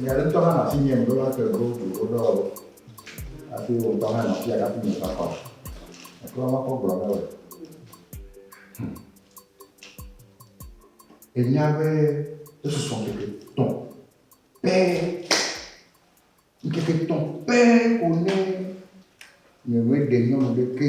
Nya ɖe ŋutɔ hã nɔ asinye ŋɖo va te go tu wo ɖɔ o. Hafi wò ŋutɔ hã nɔ afi ya hafi meva kɔ. Ekpɔ va kɔ gblɔ na wò. Hmm. Enya be esusɔ ŋkeke tɔ pɛ. Ŋkeke tɔ pɛ ko ne nye me ɖe nyɔnu ɖeke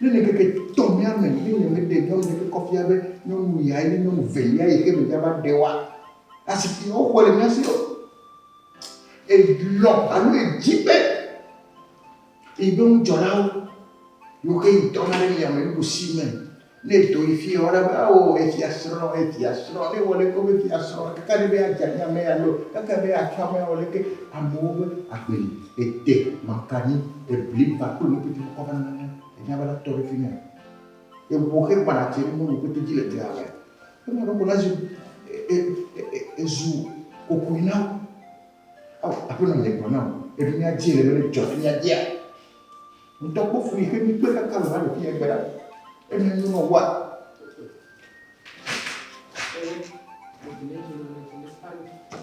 Ne le ŋkeke etɔ̃lia me ye nyemeɖe nyɔnu ɖe ƒe kɔfia be nyɔnu yae nye nyɔnu velia yi xe megava ɖe oa, asi si woxɔe le mía si o. Elɔ̃ alo edi be yeƒe ŋudzɔlawo yewo xe yi dɔna ɖe yame nuɖusi me. Ne edo yi fiaa, wona be, Ao, efiasrɔ̃, efiasrɔ̃. Ne ewɔ ɖeke be fiasrɔ̃, ekaka ɖi be yeadze ami amea alo ekaka be yeatsrɔ̃ amea, awɔ ɖeke amewo be agbe li. Ete maka nyi te bliba kple nu pete kɔ vana nane enya be na tɔ ɖe fimia. Ewo xe gbana tse nu nu pete dzi le dea mea. Ema ɖe ko na zu ezu kokui na wo. Ao aƒe nɔ nye gblɔ na wo. Eɖo mia dzi le mele dzɔ fimia dzia. Ŋutɔ kpɔ fui xe mi kpe kaka le na ɖo fimia gbera. Ena nyo nɔ wa. Thank you.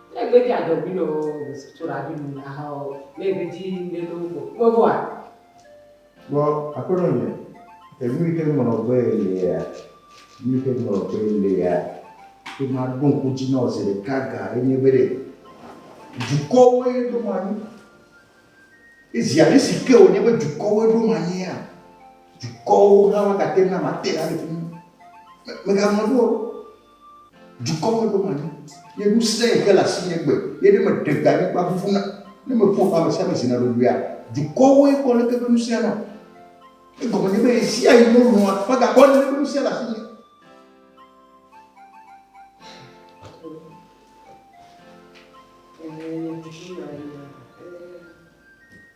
Ne egbe dzi adɔ bi nɔ besi tso la bi nu la hã o, ne egbe dzi ŋɖe nɔ ŋgɔ me vɔ a. Vɔ Aƒenɔ nye, enu yi xe ŋlɔ be lea, nu yi xe ŋlɔ be lea, be ma ɖo ŋku dzi nɔ zi ɖeka ga ye nye be ɖe dukɔwoe ɖo ma nyi. Ye zi ale si ke wònye be dukɔwoe ɖo ma nyia, dukɔwo hã ma gate ŋu na ma te la le fi mi. Mèga ŋlɔ ɖo o. Dukɔwo ɖom anyi, ye nu sẽ xe le asinye gbe, ye ne meɖe gbe anyigba ʋuʋuna, ne meƒo ƒã ame sia ame zina ɖoɖoea, dukɔwoe kpɔ leke ƒe nu sẽna. Egɔme nye be ɣesiaɣi wolɔ̃a magakpɔ aleke ƒe nu sẽ le asinye.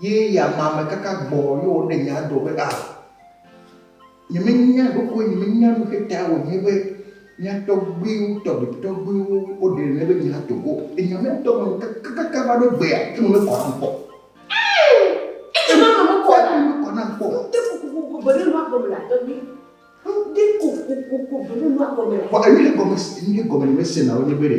Ye ya ma me kaka gbɔ ye wo ɖe nya do be a ah, nye me nya ɖoko nye me nya nu xe ta wo nye be nya tɔgbiwo tɔgbi tɔgbiwo wo ɖe ne be nya to ko e nya me tɔ me kaka kaka va ɖo gbea e me me kɔ na ŋkɔ. E nya me me kɔ na me kɔ na ŋkɔ. N te ko ko ko bele lua gɔme la tɔgbi. N te ko ko ko ko bele lua gɔme la. Ko e nye gɔme e nye gɔme ne me se na wo nye be de.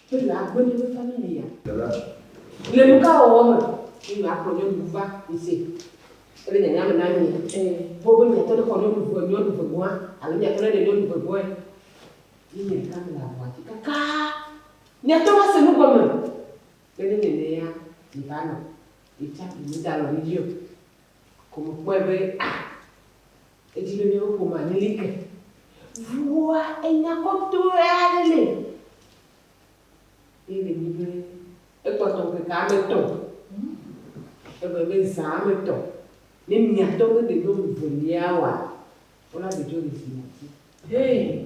be yewoagblɔ nye nufɔnuwo ya? Le nukawɔwɔ me ye yewoakplɔ nyɔnuwo va mise kple nyanya me na mí? Togbɔ be míatɔ ɖe xɔ nyɔnuŋue nyɔnu vegɔ̃a alo míatɔ ɖe ɖe nyɔnu vegɔ̃e ye nye ɖeka mele aʋua dzi kakaa, míate ŋu ase nu gɔme be ne nye nɛa, yevanɔ, yetsã, yemegalɔ̃ mí dzi o. ko mekpɔe be ah edziɖoɖiwo ƒomea meli ke ŋuwòa enya kɔtɔe aɖe li ye ɖe nyi be ekpɔtɔ ŋkeke ame etɔ̃ egɔme be zã ame etɔ̃ ne miatɔ be ɖe ɖo ŋu velia wɔa wona ɖe dzo ɖe zi nati. Hee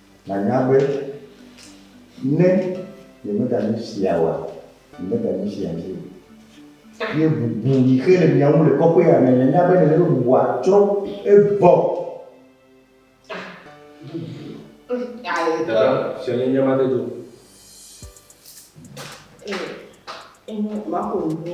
Nànya be ne nyemeganyi fia oa, nyemeganyi fia vi o. Ye bubu yi xe le mia ŋu le kɔƒea me. Nènya be nèle be bubua tsrɔ̃ egbɔ. Dada, fia nye nye made do. Ee, enyo, maƒo nu.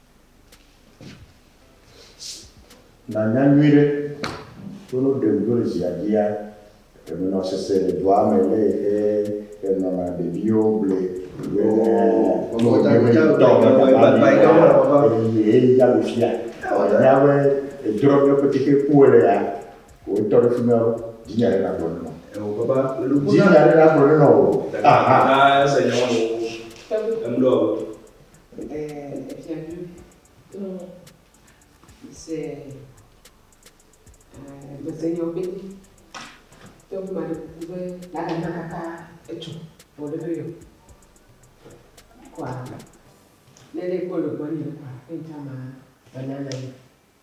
Nànya nyuiɖe be no ɖem ɖo le ziadia emenɔ sese le dua me le ehe enɔna ɖeviwo ble be ŋutɔ be baba mi eye eyi ya le fia. Enya be edrɔ ɖe ƒe tete ku ele ya ko etɔ ɖe fima dzinya ɖe nagblɔ ne nɔ. Dzinya ɖe nagblɔ ne nɔ o. Aha. Ese nya wo. Emɖɔ. Ɛɛ, Fiadu, to se ɛɛ mese nyɔ be to ŋu maɖe kuku be lala na kaka etsɔ vɔ ɖe me yɔ kɔa ne ɖe ekpɔ le gbɔnye kɔa ne ŋtsã ma va nana ye.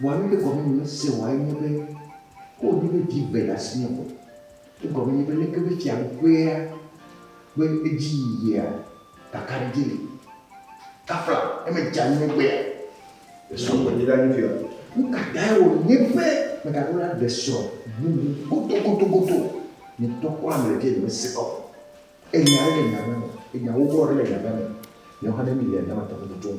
Vɔa nu ke gɔme nyemese oa enye be, ke wònye be vi eve le asinye vɔ, egɔme nye be leke be fiaɖuƒea ƒe edziyiyia kakaɖedzi li? Kafla ne medza nu egbea, esrɔ̃ ŋgɔ dzi ɖa nye fia. Nukatae wònye be megaɖo la ɖe srɔ̃ bubu godogodogodo? Ŋutɔ kpɔ ame ɖevia nyemese kɔ o. Enya aɖe le nya ŋa me, enya wowɔ aɖe le nya ŋa me. Míawo hã ne míele nya ma tɔgbi tutum.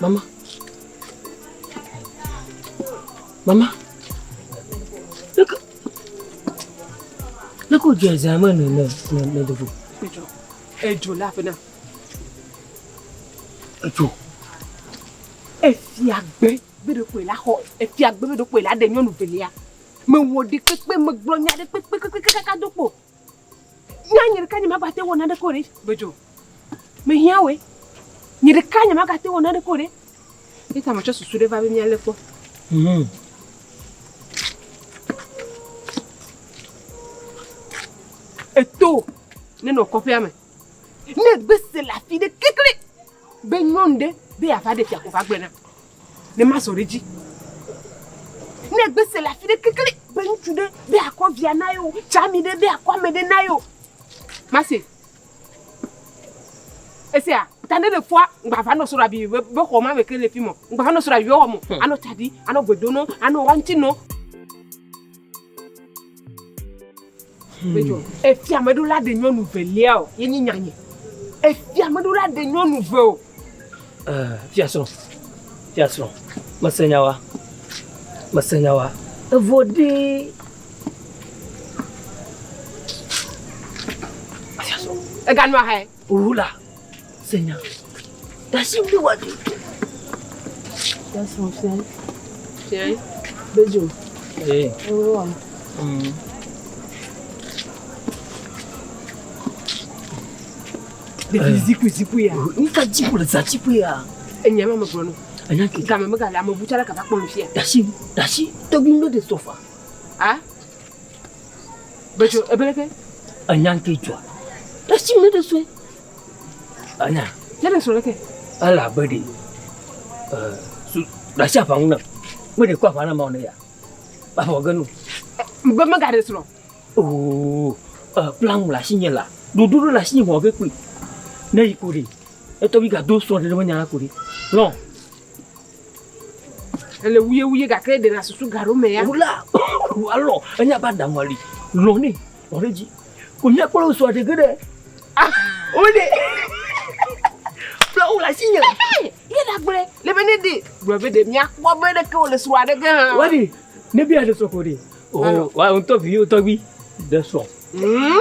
Mama. Mama. Look. Look who just I'm in the the the Ejo. Ejo laughing now. Ejo. Efiagbe be do ko la ho. Efiagbe be do ko la de nyonu velia. Me wo de kpekpe me gblɔ nya de kpekpe kpekpe kaka do ko. Nya nye ɖeka nye magate wɔ naneke o ɖe. Gbedzo. Mehiã wòe. Nye ɖeka nye magate wɔ naneke o ɖe. Eta metsɔ susu ɖe va be míalé kpɔ. Hmm. Eto nenɔ kɔƒea me. Ne gbese le afi ɖe kekle be nyɔnu ɖe be yeava ɖe fia ko va gblẽ na. Ne mazɔ ɖe edzi. Ne gbe se le afi ɖe kekle be ŋutsu ɖe be akɔ via na yewo, tsami ɖe be akɔ ame ɖe na yewo. Mase. Esia, ta ne le fɔa, ŋgbava nɔ sora bi be xɔ ma me ke le fi mɔ. Ŋgbava nɔ sora bi be wɔ mo. Hmm. Anɔ tadi, anɔ gbedono, anɔ wa ŋuti no. Efia meɖo la ɖe nyɔnu velia o, ye nyi nyanye. Efia meɖo la ɖe nyɔnu ve o. Eh, fia srɔ̃, fia srɔ̃, mese nyawa, mese nyawa. Evo ɖi. Fia srɔ̃. Ega nua hɛ. Ohola, se nya. Dasi bi wa di. That's what I'm saying. Bejo. Eh. Ohola. Mm. Depuis ziku ziku ya. Ni ka ziku le za ziku ya. Enya ma me gblɔ no. Enya ke. Game me gale amebu tsɛ ɖe kaba kpɔ nu fia. Dasi dasi tɔgbi nu de sofa. Ah. Betsɔ ebe ɖe ke enya ŋkɛ dzɔa. Esi mi ɖe sue. Anya. Ne ɖe sɔ ɖe ke. Ele abe ɖe ɛ su ɖasi aƒa ŋu na. Me ɖe kɔ aƒa na ma ne ya. Aƒa wɔ genu. Be me ga ɖe sɔ. Oo ɛ plan la si nye la. Ɖoɖo ɖe la si nye mɔ ge kpui. Ne yi ko ɖe. Etɔ bi ga do sɔ ɖe ɖe me nya la ko ɖe. Lɔ. Ele wuyewuye gake eɖe le asusu ga ɖo me ya. Wula wu alɔ enya ba daŋu ali lɔ ne lɔ ɖe dzi. Ko nya kpɔ sɔ de geɖe. Ah, o de. Fla wula si nye. Ye da gbe le be ne de. Gbe be de mia kpɔ be ɖeke o le sɔ aɖe ge ha. Wadi ne bi aɖe sɔ ko de. O wa un tɔ vi o tɔ vi de sɔ. Hmm.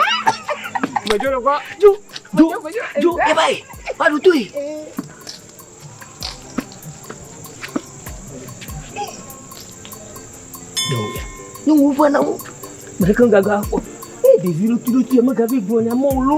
Mejo le kɔ. Jo jo jo e bai. Ba du tu. nyɔnuwo va na wo me ɖeke gaga kpɔ eye ɖevi ɖotuiɖotui megavi gblɔ nya mɔ lo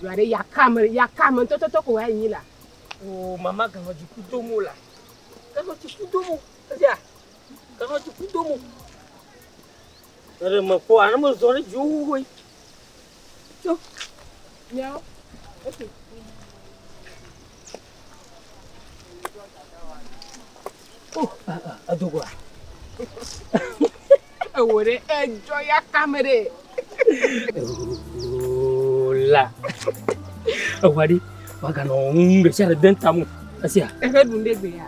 Ɖua ɖe yaka me yaka me ntɔtɔtɔ ko wòayi nyi la. O mama ganɔ dziku do mo la. Ganɔ dziku do mo eya ganɔ dziku do mo. Ɖe me kpɔ ane me zɔ ɖe dziwo wuwoe. Tso. Nyao. Esi. Edogoa. Ewo ɖe edzɔ ya kame ɖe. La. Ewa ɖi. Waganɔ ŋu ɖe sia ɖe den tamu. Esia. Ehe ɖu ɖe gbe ya.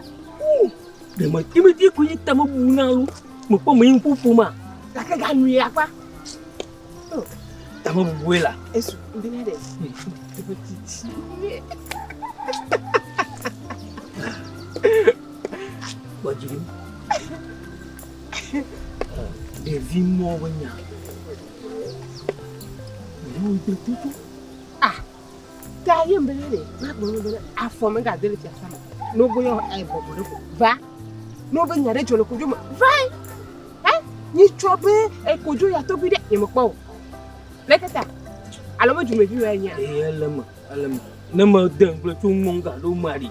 Ɖe me ti me ti ko yi tamu bu na lu. Me kpɔ me ŋku fu ma. Gake ga nu ya kpa. Tame bubue la. Esu bena ɖe. Eƒe titi. Gbɔdzi. Ɖevi mɔ be nya. Ɖevi mɔ be nya. Ta ye mbele ne ma gbe ne bele afɔ me ga dele fiasa me. No bo yo e bobo le ko. Va. No be nya de jo le ko jo me. Va. Eh? Ni cho be e ko jo ya to bi de ye me ko. Le keta. Alo me ju me ju ya nya. E le me, le me. Ne me de nglo tu mo ga do mari.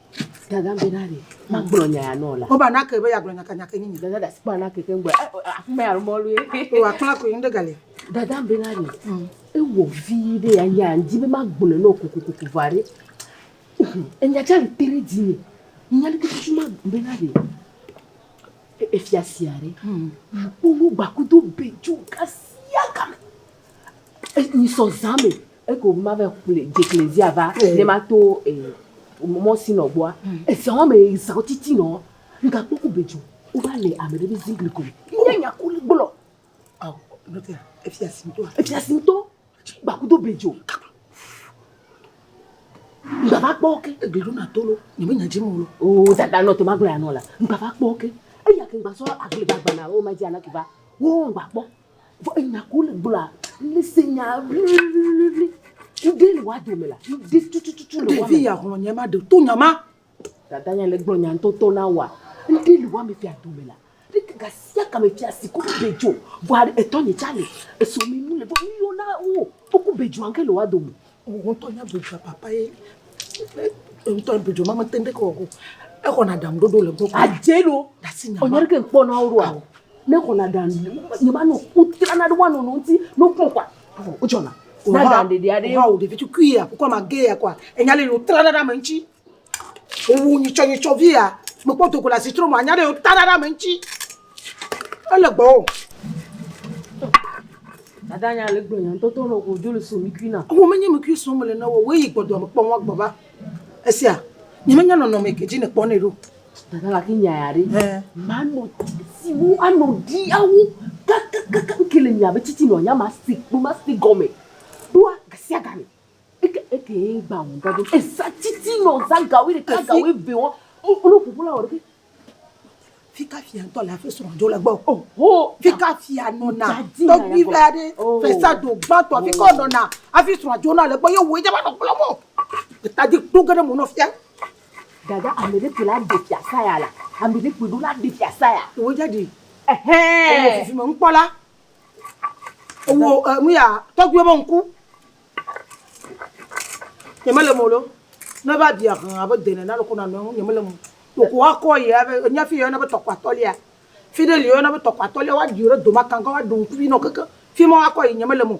Dada be na ɖe magblɔ nya ya nɔ la. Wo ba na ke be ya gblɔ nya ka nya ke nyi. Dada da si kpɔ na ke ke ngbe. Afi me alo mɔlu ye. O wa kpla ko yin de gale. Dada be na ɖe. Mm. E wo vi de ya ya ndi be magblɔ no ko ko ko ko va re. E nya cha le tere di ni. Nya le kutu ma be na ɖe. E, e fia sia re. Mm. Wo wo gba kudo be ju ka sia ka me. E ni so zame. Eke o ma ve kple dzekle zia va ne ma to mɔ si nɔ gbɔa eza wɔme eza o titi nɔ nga kpɔ ku bedzo o va le ame ɖe be zi gli ko nye nya ku le gblɔ aw nɔ te efi asi ŋtɔ efi asi ŋtɔ gba ku do bedzo nga va kpɔ ke egli ɖo na to lo nye me nya dzi mu lo o dada nɔ te ma gblɔ ya nɔ la nga va kpɔ ke eya ke gba sɔ agli gba gba na o ma dzi ana ke va wo gba kpɔ Vɔ enya ko le gblɔa, ne se nya ʋliʋliʋliʋli. Ŋɖe le woa dome la, ŋɖe tutututu le woa me. Ɖevi ya xlɔ nya ma ɖe to nya ma. Dada ya le gblɔ nya ŋtɔtɔ na woa, ŋɖe le woa me fia dome la. Ɖe ke ga sia ga me fia si ku bedzo. Vɔa etɔ nye tsa le. Esɔ me nu le vɔ nu yɔ na wo. Wo ku bedzua ŋke le woa dome. Ŋutɔ nya dzodzro papa ye. Ŋutɔ dzodzro ma mete ɖe kɔ go. Exɔna ɖam ɖoɖo le gbɔ. Adze ɖo. Dasi nya. Ɔnyɛ ɖe ke kpɔ na wo ɖo a. Ne xɔna ɖam nye ma no kutra na ɖe wa no no ŋuti no kpɔ kwa. Wo jɔna. Na ɖam ɖeɖe aɖe. Wa wo ɖevi tukui ya ko ma ge ya kwa. Enya le no tra na ɖe ame ŋuti. Wowu nyitsɔnyitsɔ vi ya, mekpɔ do go le asitro me anya ɖe yewo ta ɖa ɖe ame ŋuti. Ele gbɔ o. Dada nya le gblɔ nya ŋutɔ to nɔ godzo le so mikui na. Wo menye mikui so mele na wo, woyi gbɔ doa mekpɔ wa gbɔ va. Esia, nye menya nɔnɔme ke dzi nekpɔ nɛ ɖo. Dada la ki nya ya ɖe. Eh. Manɔ siwo anɔ di awo kakakaka ke le nya be titi nɔ nya ma si kpo ma si gɔme. Ɖoa gasia game. Eke eke ye gba ŋu gba do. Eza titi nɔ za gawi ɖeka gawi ve wɔn. O o ƒoƒo la wɔ ɖeke. Fika fia ŋutɔ le afi srɔ̃ dzo le gbɔ. O ho fika fia nɔna. Tɔgbi vɛ aɖe fesa do gbãtɔ afi kɔ nɔna afi srɔ̃ dzo na le gbɔ ye wo ye va nɔ kplɔ mɔ. Eta di kpo ge ɖe mo nɔ fia. Dada ame ɖe kpo la de fia saya la. Ame ɖe kpo do la de fia saya. Wo ja di. Ehɛn. Ele fifi me ŋkpɔ la. Ewu eh, nu ya tɔgbuiwo be ŋku. Nye mele mo lo. Ne va bia hã abe dene na loko na nɔ ŋu nye mele mo. Woko wa kɔ ye abe nya fi yɔna be tɔkpa tɔlia. Fi ɖe li yɔna be tɔkpa tɔlia wa ɖi ɖe doma kanga wa ɖu ŋku vi nɔ keke. Fi ma wa kɔ yi nye mele mo.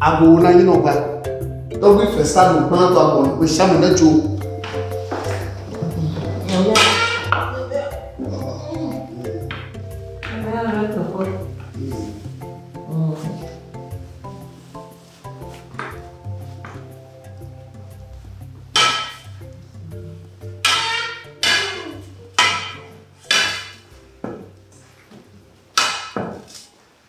Agbo wo na nyi nɔ gba. Tɔgbi fe sa do kpã to agbo no sha me ne tso.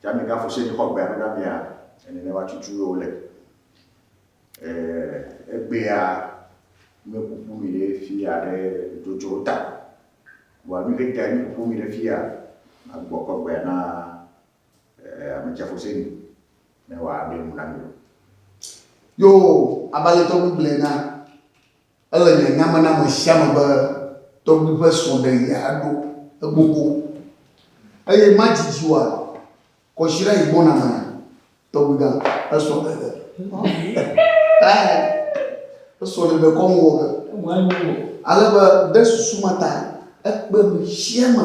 Tsa mi gafu se xɔ gbea na mia ene ne wa cucu yo le. Eh egbea me kuku mi le fia le dojo ta. Wa mi ke ta mi kuku mi le fia agbo kɔ gbea na eh ame tsa fu se ni ne wa be mu na mi. Yo abalẹtɔ nu gblena. Ele nye nya me na ame sia ame be tɔgbui ƒe srɔ̃ɖeɣia ɖo egbogbo, eye madidi wòa kɔsiɖa yi gbɔna me na tɔgbuigã ƒe srɔ̃ɖeɣi. Esrɔ̃ɖeɖe kɔm wɔ ge ale be ɖe susu ma ta ekpe nu sia me.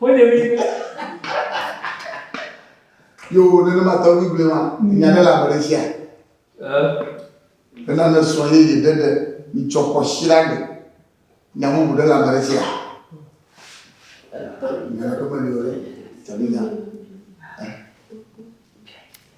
Wode mi be. Yo nenema tɔgbi gblɔe ma, nya ɖe le ame ɖe tsia. Bena ne srɔ̃ yeye ɖe ɖe mitsɔ kɔ si la gbe. Nya bubu ɖe le ame ɖe tsia. Nya ɖe meli o ɖe, taminya.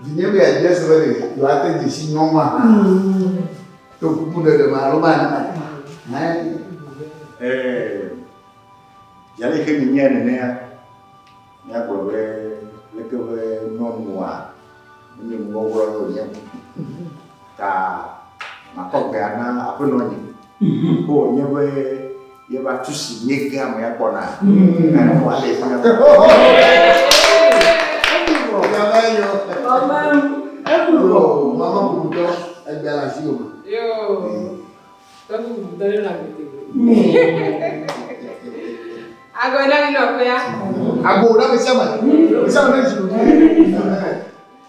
Vinye be yeadze ese be ɖe yewoate dze si nyɔnua hã to kuku ɖeɖe me alo mane ma ta hãe. Ɛɛ, zi aleke minyea nenea, míagblɔ be leke be nyɔnua menye nuwɔwɔ lɔ wònye o. ta makɔ gbea na aƒenɔ nye o nye be yeva tu si míegea me ya kpɔna gane mo ale fi ya Mama bubutɔ egbea le asi o ma. Agora não, foi a. Agora, me chama. Me chama, me chama.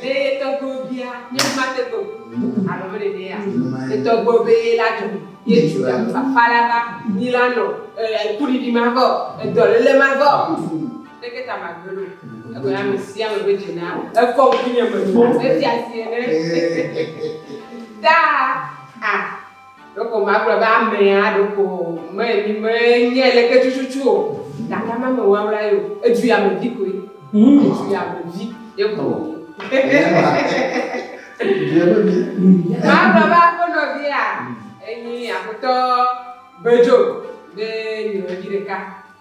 Ɖe ye tɔgbuiwo bia nye mate kpem alo mele nɛa? Ye tɔgbuiwo be ye la dzɔ ye Juda me bafa la va, nyi la nɔ e kuɖiɖi ma vɔ, e dɔlele ma vɔ o, leke ta magbe ɖo? Egɔe nye ame sia ame be dze na efɔ ŋkunye me, etia sie ne ta a. Ɖeko magblɔ be amea ɖeko menyi menye leke tututu o, gake ame mewawla ye o, edu yame vi koe. Mm. Edu yame vi ye koe. Oh. Edu yame vi. Magblɔ be aƒenɔ via enyi aƒetɔ Bejo be nyɔnyi ɖeka.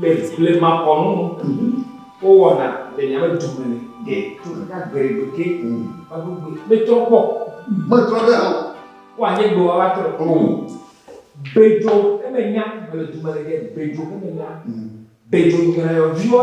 Le blemakɔnu nu, wowɔna le nyame dume ne ɖe to kaka gberegbe ke vaɖogbe metrɔ kpɔ. Metrɔ ɖe hã. Wa nye gbe wawa trɔ. Bedzo emenya mele dume ne ɖe bedzo emenya. Bedzo nyɔyɔviwa.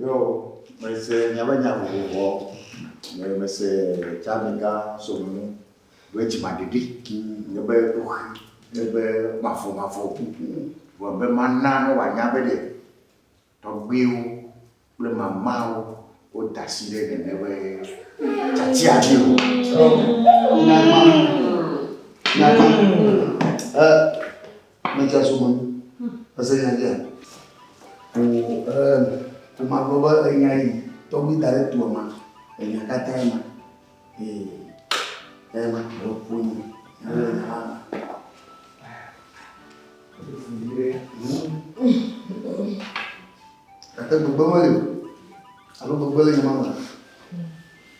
Yo, mese miaƒe nya vovovoa, me, mese Tsamika Somunu ƒe dzimaɖiɖi, nye be ɖoxi, nye be mavomavo, vɔ be mana ne wòanya be ɖe tɔgbuiwo kple mamawo woda asi ɖe nene ƒe tiatia dzi o. Nyakpã, nyakpã. Eh, Metsɔ so me. Ese nya dzea? O e ma gblɔ be enya yi tɔgbi da ɖe toa ma. Enya katã ma. Ee. Ee ma gblɔ ƒo ni. Ele nya la ma. Gake gbegbe meli o. Alo gbegbe le nya ma ma.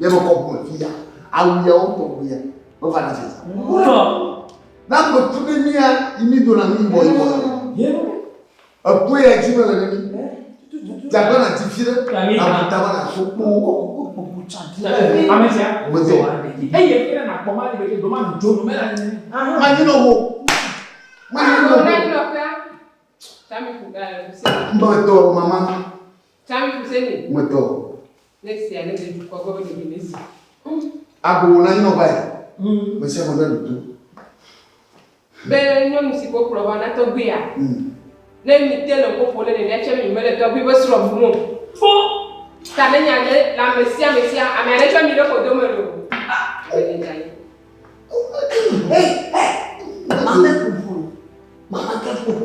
Ye me kɔ bɔ fi ya. Awu ya wo tɔ bu ya. Wo va na se sa. Wo. Na ko tu de ni ya imi do na mi bɔ yi bɔ na. Ye. Eku ya ji me le ne mi. Jagba na ti fi de. Abu ta ba na so kpo. Ko ko bu cha ti. Ame sia. Wo me se. Eye fi na kpɔ ma ni be do ma du jo no me la ni. Ma ni no wo. Ma ni no wo. Mbɔ to mama. Tsam Fuseni. Ŋutɔ. Ne sia ne de dukɔa gbɔ be ɖevi ne si. Agbo wòna anyinɔgba ye. Me sia me bia ɖoto. Be nyɔnu si ko kplɔ va na tɔgbuia. Ne mi te le ƒoƒo ne nene tsɛ mi mele tɔgbui be srɔ̃ vum o. Fo. Ta ne nya ɖe le ame sia ame sia ame aɖe tsɔ mi ɖe ƒodo me lo. Hey, hey. Mama ke ƒoƒo. Mama ke ƒoƒo.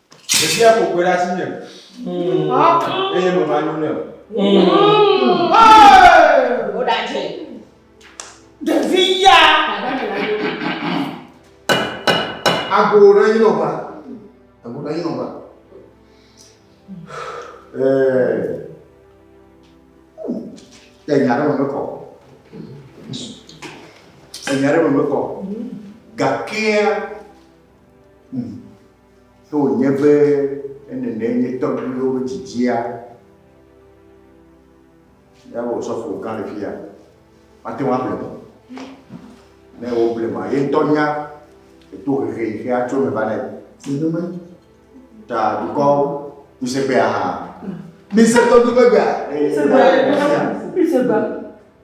Ɖevia ƒo kpe ɖe asinye eye meva nyo nɛ. Woɖadze. Ɖevi ya. Ago ɖe yi nɔba. Ago ɖe yi nɔba. Ẹ nya ɖe me mekɔ. Ẹ nya ɖe me mekɔ. Gakea. Mm. Ke wònye be ne nenee nye tɔgbuiwo ƒe dzidzia, ya wò sɔfo gã le fiya, mate ŋu ablem o. Ne woblem a, ye ŋutɔ nya le to hehe yi xe atso me va nɛ. Nenema. Ta dukɔ ŋusẽgbea hã. Mise tɔgbuiwo gbea. Mise gbea. Mise gbea.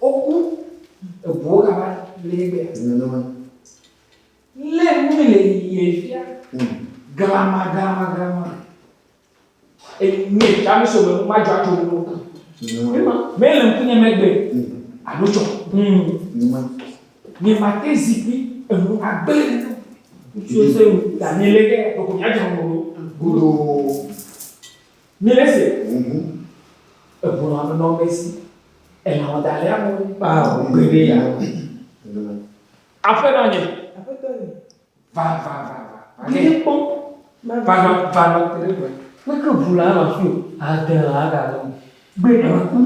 Woku eŋuwo kaba le ye gbea. Nenema. Lé nu mi le yeye fia. Hmm. Glama, glama, glama. Enye fia mi so me nu ma dzɔ adzo nu. Nenema. Me le ŋku nye megbe. Hmm. Alo tsɔ. Hmm. Nenema. Nye ma te zikpui enu agbe. Ŋutsu ese wu. Daniele ke, ɖoko mia dzɔ nu. Gudo. Míele ese ŋuŋu egbɔnɔ ame nɔ ame si elã wɔdalɛ amu kpaa o gbeɖe ya. Aƒenɔ nye. Aƒetɔ nye. Va va va va. Ɖe kpɔ. Va va va va te ɖe gbe. Meke ŋu la nɔ fi o. Ade la aga nɔ. Gbe nɔ ku.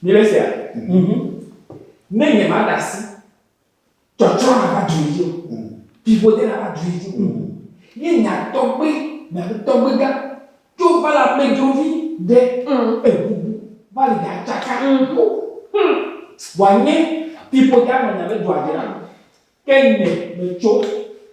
Míele esea. Ne nye ma da asi. Tsɔtsɔ na va dui dzi o. Vivo de na va dui dzi o. Ye nya tɔgbe na be tɔgbe gã tso va la medrovi de ebubu va li da tsaka yo. Wa nye vivo de anɔ nya be dua dra ke nye me tso.